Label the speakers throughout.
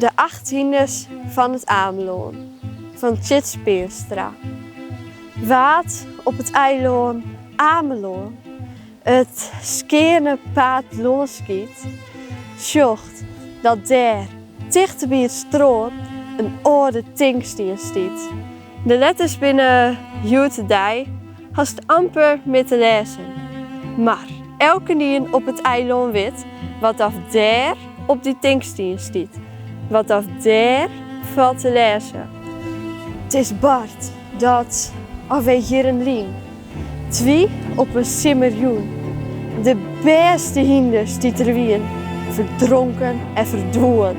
Speaker 1: De acht hynders fan it Amelân fan Tjits Peanstra. Wa't op it eilân Amelân it skeane paad lâns giet, sjocht dat dêr tichteby it strân in âlde tinkstien stiet. De letters binne hjoed-de-dei hast amper mear te lêzen, mar elkenien op it eilân wit wat oft dêr op dy tinkstien stiet, wat oft dêr falt te lêzen. It is bard, dat alwer jierren lyn, 't wie op in simmerjûn de bêste hynders dy't der wiene, ferdronken en ferdwûn.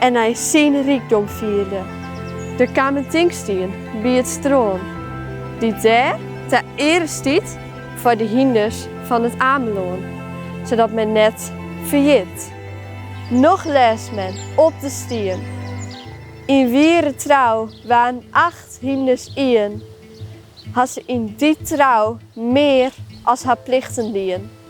Speaker 1: en hy syn rykdom fierde. Der kaam in tinkstien by it strân, dy't dêr ta eare stiet foar de hynders fan it Amelân, sadat men net ferjit. Noch lêst men op de stien, Yn wiere trou waarden acht hynders ien, ha se yn dy trou mear as har plichten dien.